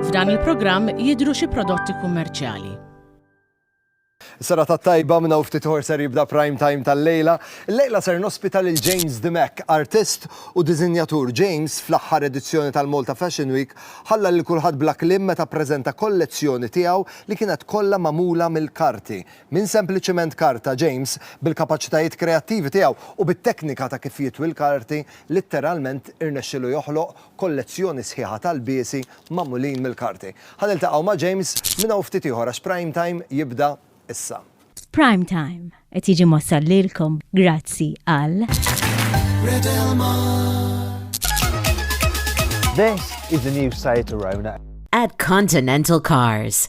F'dan il-programm jidhru xi prodotti kummerċjali. Serata tajba minn hawn ftit ieħor ser jibda prime time tal-lejla. Illejla ser nospita lil James Dimech, artist u diżinjatur. James, fl-aħħar edizzjoni tal-Malta Fashion Week, ħalla lil kulħadd bla kliem meta ppreżenta kollezzjoni tiegħu li kienet kollha magħmula mill-karti. Minn sempliċiment karta, James, bil-kapaċitajiet kreattivi tiegħu u bit-teknika ta' kif jitwi l-karti, litteralment irnexxielu joħloq kollezzjoni sħiħa tal-biesi magħmulin mill-karti. Ħa niltaqgħu ma' James minn hawn ftit ieħor għax Prime Time jibda issa. Prime Time qed jiġi mwassal lilkom grazzi għal. Red Del Mar. This is the new Seat Arona. At Continental Cars.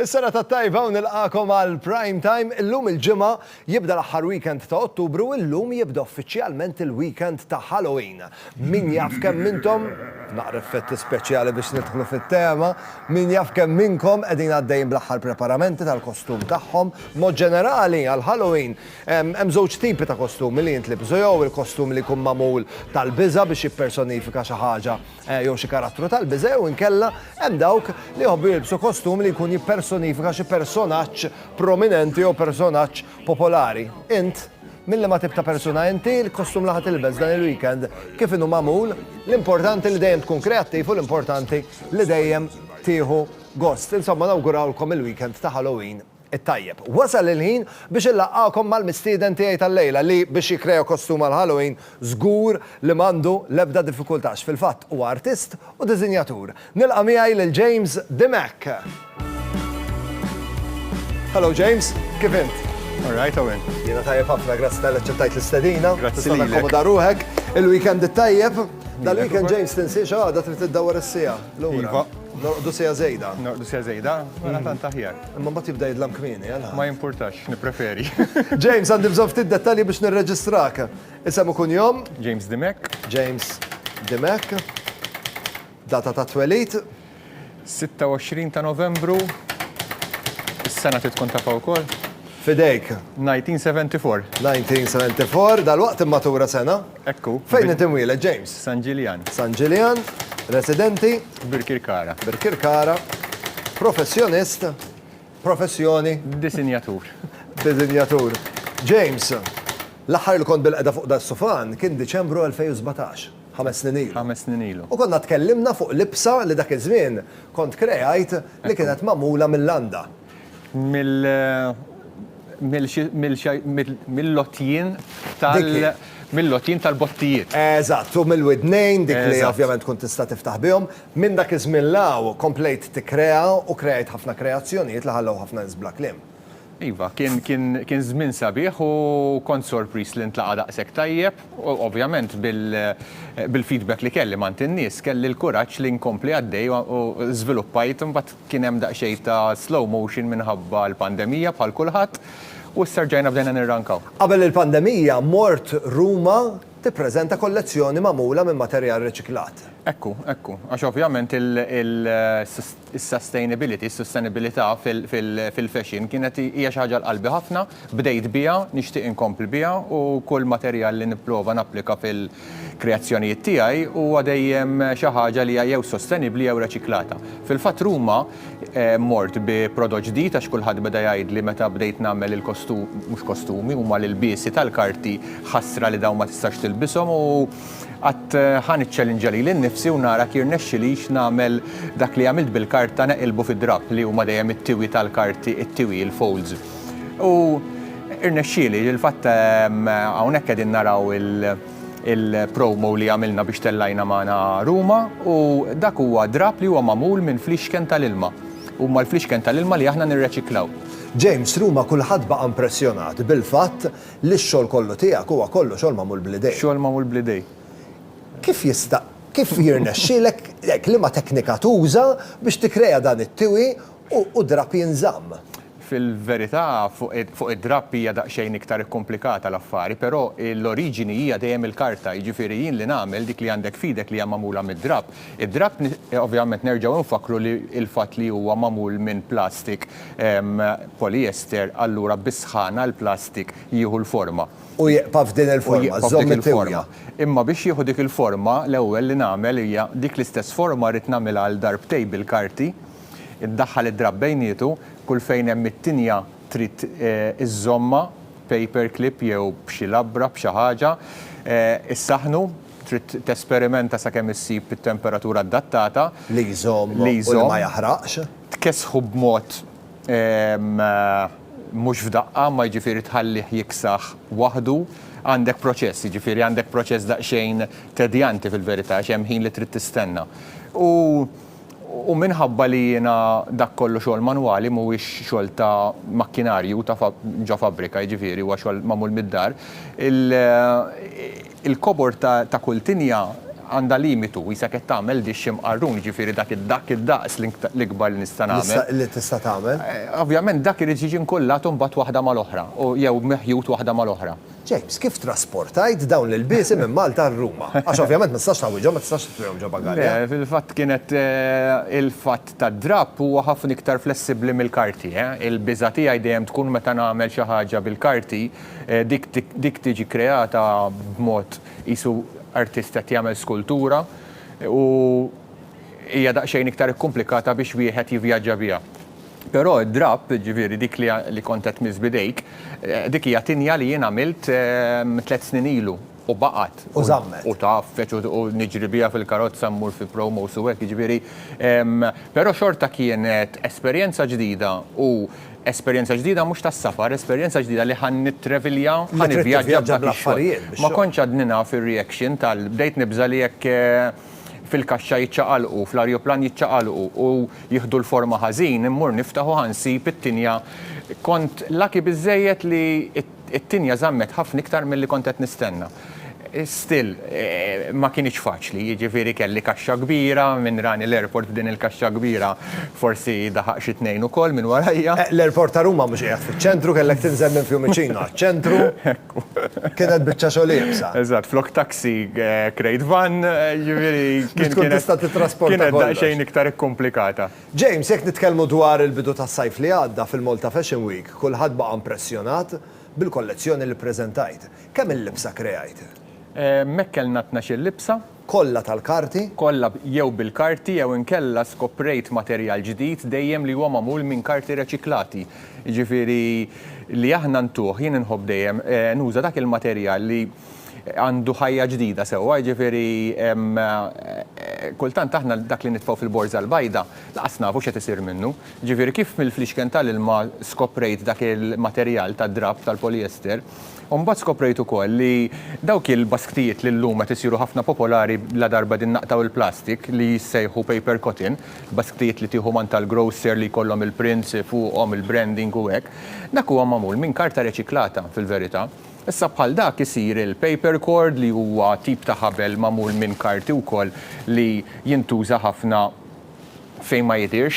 Is-sena tat-tajba u nilqagħkom għal Prime Time. Illum il-Ġimgħa jibda l-aħħar weekend ta' Ottubru u illum jibda uffiċjalment il-weekend ta' Halloween. Min jaf kemm minntom, naqra effetti speċjali biex nidħlu fit-tema, min jaf kemm minnkom qegħdin għaddejjin bl-aħħar preparamenti tal-kostum tagħhom. B'mod ġenerali, għal Halloween hemm żewġ tipi ta' kostumi li jintlibsu jew il-kostum li jkun magħmul tal-biża' biex jippersonifika xi ħaġa jew xi karattru tal-biża' jew inkella hemm dawk li jħobbu jilbsu kostum li jkun jippersonifika xi personaġġ prominenti jew personaġġ popolari. Int? Minn liema tip ta' persuna inti? Il-kostum li ħa tilbes dan il-weekend kif inhu magħmul? L-importanti li dejjem tkun kreattiv u l-importanti li dejjem tieħu gost. Insomma nawgurawlkom il-weekend ta' Halloween It-tajjeb. Wasal il-ħin biex inlaqqagħkom mal-mistieden tiegħi tal-lejla li, biex jikkrea kostum għall-Halloween, żgur li m'għandu l-ebda diffikultà għax fil-fatt huwa artist u diżinjatur. Nilqa' miegħi lil James Dimech! Hello James, kif int? All right, how are you? Jiena tajjeb ħafna, grazzi tal-li aċċettajt l-istedina. Grazzi lilek. Tista' takkomoda ruħek. Il-weekend it-tajjeb. Dal-weekend James tinsi xi ħaġa trid tiddawwar is-siegħa lura. Iva. Norqdu siegħa żejda. Norqdu siegħa żejda, mela tant aħjar. Imma mbagħad jibda jidlam kmieni, għal. Ma jimpurtax, nippreferi. James, għandi bżonn ftit dettalji biex nirreġistrak. Isem u kunjom? James Dimek. James Dimek. Data ta' twelid? 26 ta' Novembru. Is-sena titkun tafa wkoll. Fidejk. 1974. 1974, dal-waqt immatura sena? Hekk hu. Fejn int imwieled, James? San Ġiljan. San Ġiljan, residenti? Birkirkara. Birkirkara. Professjonist? Professjoni? Disinjatur. Disinjatur. James, l-aħħar li kont bilqegħda fuq das-sufan kien Diċembru 2017, ħames snin ilu. Ħames snin ilu. U konna tkellimna fuq libsa li dak iż-żmien kont kreajt li kienet magħmula mil-landa. mill-lotjien tal-bottijiet. Eżatt, u mill-widnejn, dik li ovvjament tkun tista' tiftaħ bihom. Minn dak iż-żmien 'l hawn komplejt tikkrea u kreajt ħafna kreazzjonijiet li ħallew ħafna nies bla kliem. Iva, kien żmien sabiħ u kont sorpriż li ntlaqa' daqshekk tajjeb. Ovvjament bil-feedback li kelli m'għand in-nies, kelli l-kuraġġ li nkompli għaddej u żviluppajt imbagħad Kien hemm daqsxejn ta' slow motion minħabba l-pandemija bħal kulħadd u issa rġajna bdejna nirrankaw. Qabel il-pandemija mort Ruma tippreżenta kollezzjoni magħmula minn materjal riċiklat. Ekku, ekku. Għax ovvjament is-sustainability, is-sustenibbilità fil-fashion kienet hija xi ħaġa għal qalbi ħafna Bdejt biha, nixtieq inkompli biha u kull materjal li nipprova napplika fil-kreazzjonijiet tiegħi huwa dejjem xi ħaġa li hija jew sostenibbli jew reċiklata. Fil-fatt Ruma mort bi prodott ġdid għax kulħadd beda jgħidli meta bdejt nagħmel il-kostum, mhux kostumi, huma l-ilbiesi tal-karti, ħasra li dawn ma tistax tilbishom u qatt ħa niċċelinġja lili nnifsi u nara jekk jirnexxilix nagħmel dak li għamilt bil-karta neqilbu fi drapp li huma dejjem it-tiwi tal-karti, it-tiwi, il-folds. U irnexxieli, il-fatt ehm, hawnhekk qegħdin naraw il-promo li għamilna biex tellajna magħna Ruma u dak huwa drab li huwa magħmul minn flixken tal-ilma. Huma l-flixken tal-ilma li aħna nirreċiklaw. James, Ruma kulħadd baqa' impressjonat bil-fatt li x-xogħol kollu tiegħek huwa kollu xogħol magħmul bl-idejk. Xogħol magħmul bl-idejk. Kif jista' kif jirnexxielek hekk liema teknika tuża biex tikkrea dan it-tiwi u drapp jinżamm. Fil-verità, fuq id-drapp hija daqsxejn iktar ikkumplikata l-affari, però l-oriġini hija dejjem il-karta, jiġifieri jien li nagħmel dik li għandek f'idek li hija magħmula mid-drapp. Id-drapp, ovvjament nerġgħu infakkru li l-fatt li huwa magħmul minn plastik poliester, allura bis-sħana l-plastik jieħu l-forma. U jieqpa' f'din il-forma, żżomm it-tiwja. Imma biex jieħu dik il-forma, l-ewwel li nagħmel hija dik l-istess forma rrid nagħmilha għal darbtej bil-karti, Iddaħħal id-drapp bejnietu, kull fejn hemm it-tinja trid iżżommha b'paper clip jew b'xi labra, b'xi ħaġa. Issaħħnu, trid tesperimenta sakemm issib it-temperatura adattata. Li jżomm u li ma jaħraqx. Tkessħu b'mod mhux f'daqqa, ma jiġifieri tħallih jiksaħ waħdu. Għandek proċess, jiġifieri għandek proċess daqsxejn tedjanti fil-verità għax hemm ħin li trid tistenna. U. U minħabba li jiena dak kollu xogħol manwali, mhuwiex xogħol ta' makkinarju ta' ġo fabbrika, jiġifieri huwa xogħol magħmul mid-dar, il-kobor ta' kull tinja għandha limitu, qisha qed tagħmel dixx imqarrun, jiġifieri dak id-daqs l-ikbar li nista' nagħmel. Li tista' tagħmel. Ovvjament dak irid jiġi nkullat imbagħad waħda mal-oħra, jew meħjut waħda mal-oħra. James, kif trasportajt dawn l-ilbiesi minn Malta għal Ruma? Għax ovvjament ma tistax tawwiġhom, ma tistax titwihom ġo bagalja. Le, fil-fatt kienet il-fatt tad-drapp huwa ħafna iktar flessibbli mill-karti. Il-biża' tiegħi dejjem tkun meta nagħmel xi ħaġa bil-karti, dik tiġi kreata b'mod qisu artist qed jagħmel skultura u hija daqsxejn iktar ikkumplikata biex wieħed jivvjaġġa biha. Però d-drapp, jiġifieri dik li kont qed tmiss b'idejk, dik hija tinja li jien għamilt tliet snin ilu u baqgħet. U żammet. U tgħaffeġ u niġri biha fil-karozza mmur fi promos u hekk, jiġifieri. Però xorta kienet esperjenza ġdida u esperjenza ġdida mhux tas-safar, esperjenza ġdida li ħa nittrevilja, ħa nivvjaġġa b'dak ix-xogħol. Ma kontx għadni naf ir-reaction tal-, bdejt nibża' li jekk fil-kaxxa jiċċaqalqu, fl-arjuplan jiċċaqalqu u jieħdu l-forma ħażin, immur niftaħ u ħa nsib it-tinja kont lucky biżżejjed li t-tinja żammet ħafna iktar milli kont qed nistenna. Still, ma kinitx faċli, jiġifieri kelli kaxxa kbira, min rani l-airport b'din il-kaxxa kbira forsi daħaq xi tnejn ukoll minn warajja. L-airport ta' Ruma mhux qiegħed fiċ-ċentru, kellek tinżel minn Fiumicino għaċ-ċentru. Kienet biċċa xogħol iebsa. Eżatt, flok taxi krejt van, jiġifieri kien tkun tista' tittrasporta. Kienet daqsxejn iktar ikkumplikata. James, jekk nitkellmu dwar il-bidu tas-sajf li għadda fil-Malta Fashion Week, kulħadd baqa' impressjonat bil-kollezzjoni li ppreżentajt. Kemm-il libsa krejajt? Hemmhekk kellna tnax-il libsa, Kollha tal-karti? Kollha jew bil-karti jew inkella skoprejt materjal ġdid dejjem li huwa magħmul minn karti reċiklati. Jiġifieri li aħna ntuh, jien inħobb dejjem nuża dak il-materjal li għandu ħajja ġdida sewwa, jiġifieri kultant aħna dak li nitfgħu fil-borża l-bajda lanqas nafu x'qed isir minnu. Jiġifieri kif mill-fliexken tal-ilma skoprejt dak il-materjal tad-drapp tal-polyester, U mbagħad skoprejt ukoll li dawk il-basktijiet li llum qed isiru ħafna popolari ladarba din naqtgħu l-plastik li jissejħu paper cotton, basktijiet li tieħu mant tal-grocer li jkollhom il-prints fuqhom, il-branding u hekk, dak huwa magħmul minn karta reċiklata fil-verità. Issa bħal dak isir il-paper cord li huwa tip ta' ħabel magħmul minn karti wkoll li jintuża ħafna fejn ma jidhirx,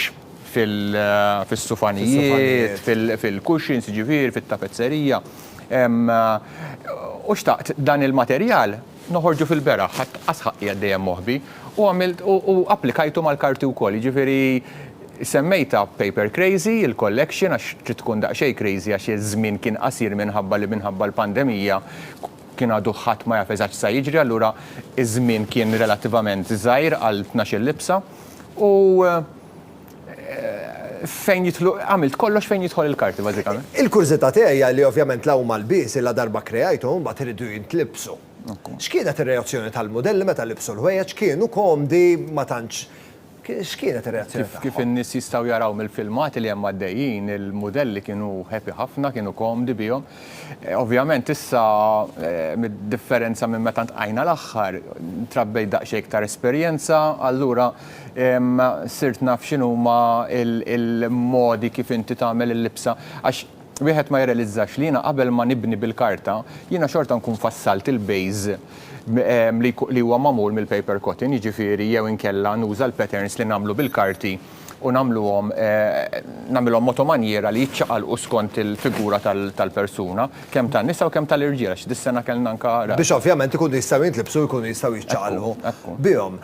fis-sufanijiet, fil-cushions, jiġifieri fit-tapezzerija. U xtaqt dan il-materjal noħorġu fil-beraħ, ħadt qas ħaqqi għad dejjem moħbi, u għamilt u applikajtu mal-karti wkoll, jiġifieri semmejtha Paper Crazy, il-collection, għax trid tkun daqsxejn crazy għax iż-żmien kien qasir minħabba li minħabba l-pandemija, Kien għadu ħadd ma jaf eżatt x'sa jiġri allura iż-żmien kien relattivament żgħir għal tnax-il libsa u fejn jidħlu għamilt kollox fejn jidħol il-karti bażikament. Il-kurżità tiegħi hija li ovvjament la huma lbies li la darba kreajthom mbagħad iridu jintlibsu. X'kienet ir-reazzjoni tal-mudelli meta libsu l-ħwejjeġ, kienu komdi ma tantx X'kienet ir-reazzjoni tagħhom? Kif in-nies jistgħu jaraw mill-filmati li hemm għaddejjin, il-mudelli kienu happy ħafna, kienu komdi bihom. Ovvjament issa, b'differenza minn meta ltqajna l-aħħar, trabbejt daqsxejn iktar esperjenza, allura sirt naf x'inhuma l-modi kif inti tagħmel il-libsa għax, Wieħed ma jirrealizzax li jiena qabel ma nibni bil-karta, jiena xorta nkun fassalt il-base li huwa magħmul mill-paper cotton, jiġifieri jew inkella nuża l-patterns li nagħmlu bil-karti u nagħmluhom nagħmilhom mod u manjiera li jiċċaqalqu skont il-figura tal-persuna, kemm tan-nisa u kemm tal-irġiel għax dis-sena kellna anke ra. Biex ovvjament ikunu jistgħu jintlibsu u jkunu jistgħu jiċċaqalqu bihom.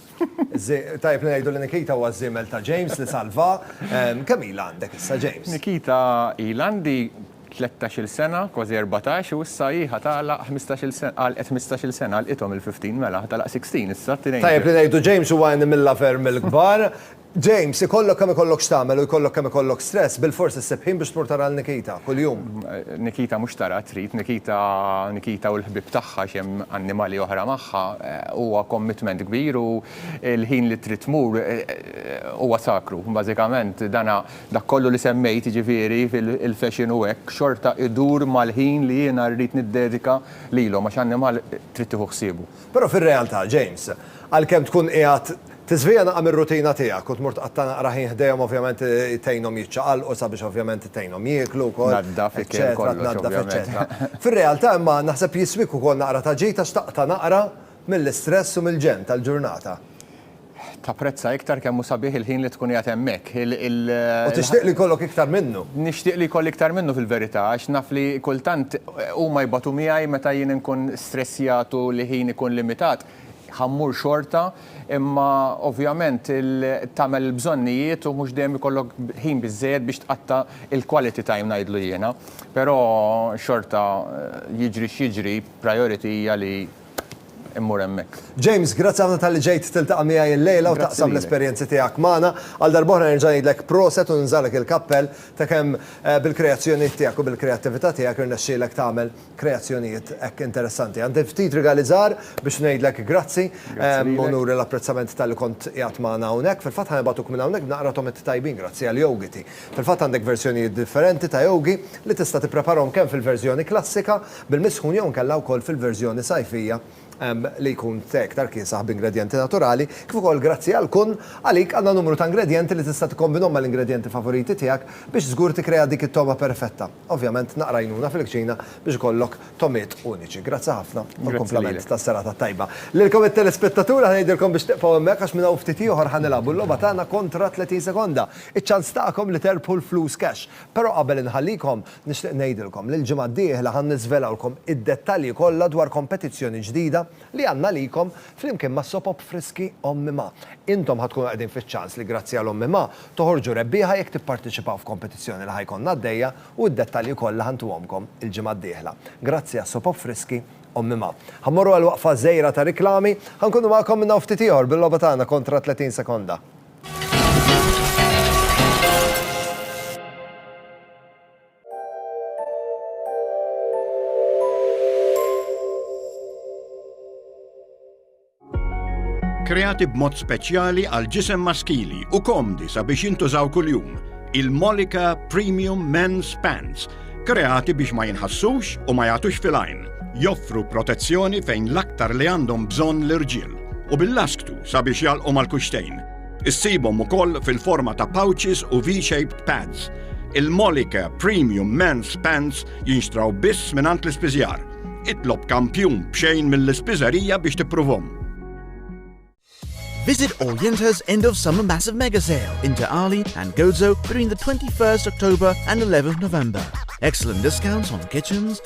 Tajjeb li ngħidu li Nikita huwa ż-żiemel ta' James li salva. Kemm ilha għandek issa, James? Nikita, Ilha għandi tlettax-il sena, kważi erbatax, u issa hi ħa tagħlaq ħmistax-il sena, għalqet ħmistax-il sena, għalqithom il-fifteen, mela ħa tagħlaq sixteen issa, tnejn. Tajjeb li ngħidu James huwa għen imillha ferm mill-kbar. James, ikollok kemm ikollok x'tagħmel u jkollok kemm ikollok stress, bilfors issib ħin biex tmur tara 'l Nikita, kuljum. Nikita mhux tara, trid. Nikita, Nikita u l-ħbieb tagħha għax hemm annimali oħra magħha, huwa commitment kbir u l-ħin li trid tmur huwa sakru. Bażikament dana, dak kollu li semmejt, jiġifieri il-fashion u hekk, xorta idur mal-ħin li jiena rrid niddedika lilhom għax annimal trid tieħu ħsiebu. Però fir-realtà, James, għalkemm tkun qiegħed tiżvija naqra mir-rutina tiegħek u tmur tqatta' naqra ħin ħdejhom ovvjament tgħinhom jiċċaqalqu sabiex ovvjament tgħinhom jieklu wkoll, eċċetera, tnaddaf eċċetera. Fir-realtà imma naħseb jiswik ukoll naqra ta' ġid għax taqta' naqra mill-istress u mill-ġenn tal-ġurnata. Tapprezza iktar kemm hu sabiħ il-ħin li tkun qiegħed hemmhekk. U tixtieq li jkollok iktar minnu. Nixtieq li jkolli iktar minnu fil-verità, għax naf li kultant huma jbatu miegħi meta jien inkun stressjat u li ħini jkun limitat, ħa mmur xorta, imma ovvjament tagħmel il-bżonnijiet u mhux dejjem ikollok ħin biżżejjed biex tqatta' il-quality time ngħidlu jiena. Però xorta jiġri x'jiġri, priority hija li immur hemmhekk. James, grazzi ħafna talli ġejt tiltaqa' miegħi illejla u taqsam l-esperjenzi tiegħek magħna. Għal darb'oħra nerġa' ngħidlek proset u ninżagħlek il-kappell ta' kemm bil-kreazzjonijiet tiegħek u bil-kreattività tiegħek irnexxielek tagħmel kreazzjonijiet hekk interessanti. Għandi ftit rigali żgħar biex ngħidlek grazzi u nuri l-apprezzament talli kont qiegħed magħna hawnhekk. Fil-fatt ħa nibgħatuk minn hawnhekk b'naqra tomit tajbin grazzi għal yoghiti. Fil-fatt għandek verżjonijiet differenti ta' yoghie li tista' tippreparahom kemm fil-verżjoni klassika, Bil-misħun jew inkella wkoll fil-verżjoni sajfija li jkun te iktar kiesaħ b'ingredjenti naturali, kif ukoll grazzi għal Kun, għalik għandna numru ta' ingredjenti li tista' tikkombinhom mal-ingredjenti favoriti tiegħek biex żgur tikkrea dik it-togħma perfetta. Ovvjament naqra għajnuna fil-kċina biex ikollok togħmiet uniċi. Grazzi ħafna u l-kumplament tas-serata t-tajba. Lilkom it-telespettatur aħna ngħidilkom biex tibqgħu hemmhekk għax minn hawn ftit ieħor ħa nilagħbu l-logħba tagħna kontra 30 sekonda, iċ-ċans tagħkom li terbħu l-flus cash. Però qabel inħallikom, Nixtieq ngħidilkom li l-ġimgħa d-dieħla ħa niżvelawlkom id-dettalji kollha dwar kompetizzjoni ġdida li għandna għalikom flimkien ma' Sopop Friski Ommi Ma. Intom ħa tkunu qegħdin fiċ-ċans li grazzi għal Ommi Ma toħorġu rebbieħa jekk tipparteċipaw f'kompetizzjoni li ħa jkollna għaddejja u d-dettalji kollha ħa ntuhomkom il-ġimgħa d-dieħla. Grazzi għal Sopop Friski Ommi Ma. Ħa mmorru għal waqfa qżejra ta' riklami. Ħa nkunu magħkom minn hawn ftit ieħor bil-logħba tagħna kontra 30 sekonda. kreati b'mod speċjali għal ġisem maskili u komdi sabiex jintużaw kuljum, il-Molika Premium Men's Pants, kreati biex ma jinħassux u ma jagħtux filajn, joffru protezzjoni fejn l-aktar li għandhom bżonn l-irġiel u bil-lasktu sabiex jalqu mal-kuxtejn. Issibhom ukoll fil-forma ta' pouches u V-shaped pads. Il-Molike Premium Men's Pants jinxtraw biss mingħand l-ispiżjar. Itlob kampjun b'xejn mill-ispiżerija biex tippruvhom. Visit Orienta's end of summer massive mega sale in De'Ali and Gozo between the 21st October and 11th November. Excellent discounts on kitchens,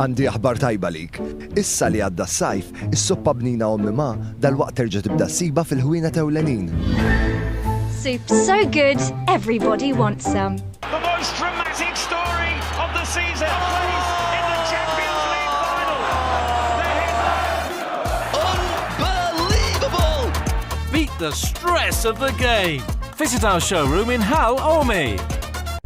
Għandi aħbar tajba għalik. Issa li għadda s-sajf, is-soppa bnina Ommi Ma dalwaqt terġa' tibda ssibha fil-ħwienet ewlenin. Soups so good, everybody wants some. The most dramatic story of the season plays in the Champions League final. The headline. Unbelievable! Beat the stress of the game. Visit our showroom in Hal Ormi.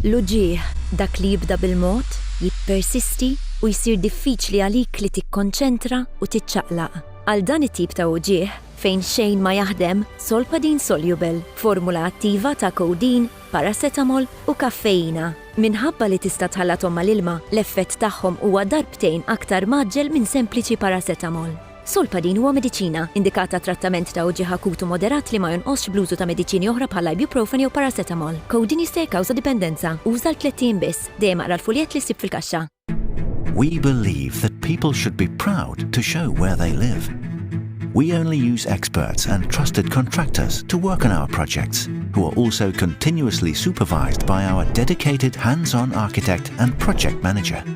L-uġigħ, dak li jibda bil-mod, jippersisti u jsir diffiċli għalik li tikkonċentra u tiċċaqlaq. Għal dan it-tip ta' uġigħ, fejn xejn ma jaħdem, Solpadeine Soluble, formula attiva ta' codeine, paracetamol u kaffeina. Minħabba li tista' tħallathom mal-ilma, l-effett tagħhom huwa darbtejn aktar mgħaġġel minn sempliċi paracetamol. Solpadeine huwa mediċina, indikat għat-trattament ta' uġigħ akut u moderat li ma jonqosx bl-użu ta' mediċini oħra bħal ibuprofen jew paracetamol. Codeine jista' jikkawża dipendenza. Uża għal tlett ijiem biss. Dejjem aqra l-fuljett li ssib fil-kaxxa. We believe that people should be proud to show where they live. We only use experts and trusted contractors to work on our projects, who are also continuously supervised by our dedicated hands-on architect and project manager.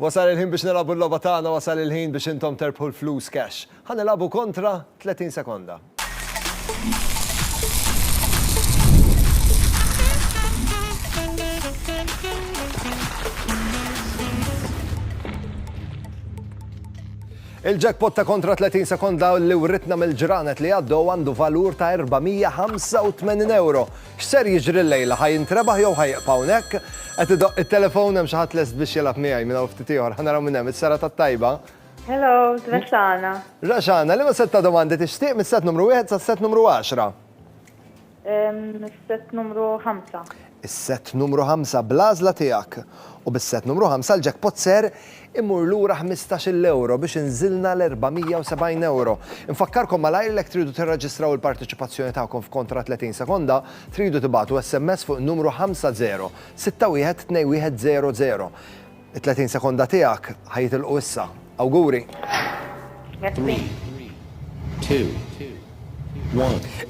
Wasal il-ħin biex nilabu l-loba tagħna, wasal il-ħin biex intom terbħu l-flus cash. Ħa nilabu kontra 30 sekonda. Il-jackpot ta' kontra 30 sekonda li writna mill-ġranet li għaddu għandu valur ta' 485 euro. X'ser jiġri llejla? Ħa jintrebaħ jew ħa jibqa' hawnhekk? Qed idoqq it-telefon, hemm xi ħadd lest biex jilgħab miegħi minn hawn ftit ieħor. Ħa naraw min hemm. Is-serata t-tajba. Hello, Raxana. Raxana, liema sett ta' domandi tixtieq mis-sett numru wieħed sas-sett numru għaxra? Mis-sett numru ħamsa. Is-sett numru ħamsa bl-għażla tiegħek. U bis-sett numru ħamsa l-jackpot ser Immur lura ħmistax-il ewro biex inżilna l-470 ewro. Infakkarkom malajr li jekk tridu tirreġistraw il-parteċipazzjoni tagħkom f'kontra 30 sekonda, tridu tibagħtu SMS fuq in-numru 50612100. It-30 sekonda tiegħek ħa jitilqu issa. Awguri! Grazzi.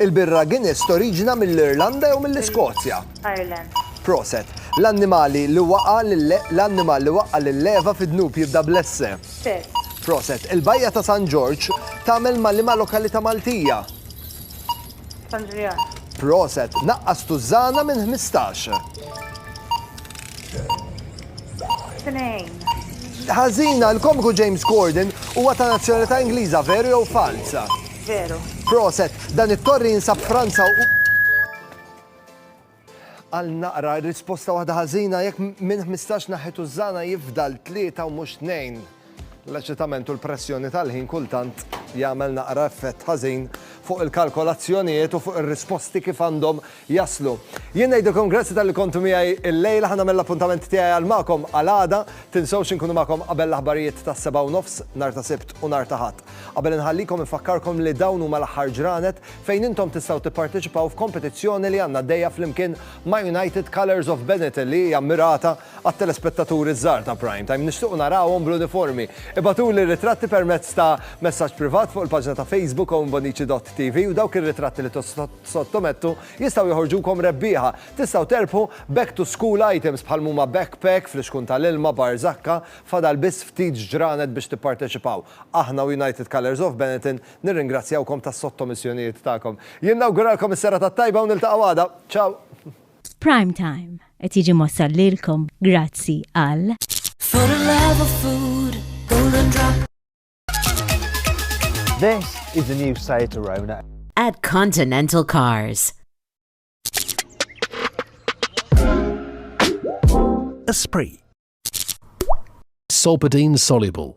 Il-birra Guinness toriġina mill-Irlanda jew mill-Iskozja? Ireland. Proset. L-annimali li waqa' l-annimal li waqqa' lil-leva fid-dnub jibda bl-esse? Ses. Proset. Il-bajja ta' San Ġorġ tagħmel ma' liema lokalità Maltija? San Ġiljan. Proset. Naqqas tużżana minn ħmistax. Ħażina, l-komiku James Corden huwa ta' nazzjonalità Ingliża, veru jew falza? Veru. Proset, dan it-torri jinsab Franza u. Għal naqra, risposta waħda ħażina jekk minn 15 naħħet użana jifdal tlieta u mhux tnejn. L-eċitament u l-pressjoni tal-ħin kultant jagħmel naqra effett ħażin fuq il-kalkolazzjonijiet u fuq ir-risposti kif għandhom jaslu. Jien ngħidilkom grazzi tal-li kontu miegħi l-lejla ħana mill-appuntament tiegħi għal magħkom għal għada, tinsewx inkunu magħkom qabel l-aħbarijiet tas-seba' u nofs nhar ta' Sibt u nhar ta' Ħadd. Qabel inħallikom infakkarkom li dawn huma l-aħħar ġranet fejn intom tistgħu tipparteċipaw f'kompetizzjoni li għandna għaddejja flimkien ma' United Colours of Benetton li hija mmirata Għat-telespettaturi ż-żgħar ta' Prime Time, nixtiequ narawhom bl-uniformi. Ibgħatuli r-ritratti permezz ta' messaġġ privat fuq il-paġna ta' Facebook owenbonici.tv u dawk ir-ritratti li tissottomettu jistgħu joħorġukom rebbieħa. Tistgħu terbħu back to school items bħal mhuma backpack, flixkun tal-ilma, barżakka, fadal biss ftit ġranet biex tipparteċipaw. Aħna u United Colours of Benetton nirringrazzjawkom tas-sottomissjonijiet tagħkom. Jien nawguralkom is-serata t-tajba u niltaqgħu għada. Ciao! F'Prime Time qed jiġi mwassal lilkom grazzi għal For the love of food, golden drop. This is the new Seat Arona. At Continental Cars. Esprit. Solpadeine soluble.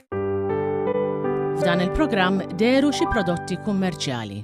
F'dan il-programm deru xi prodotti kummerċjali.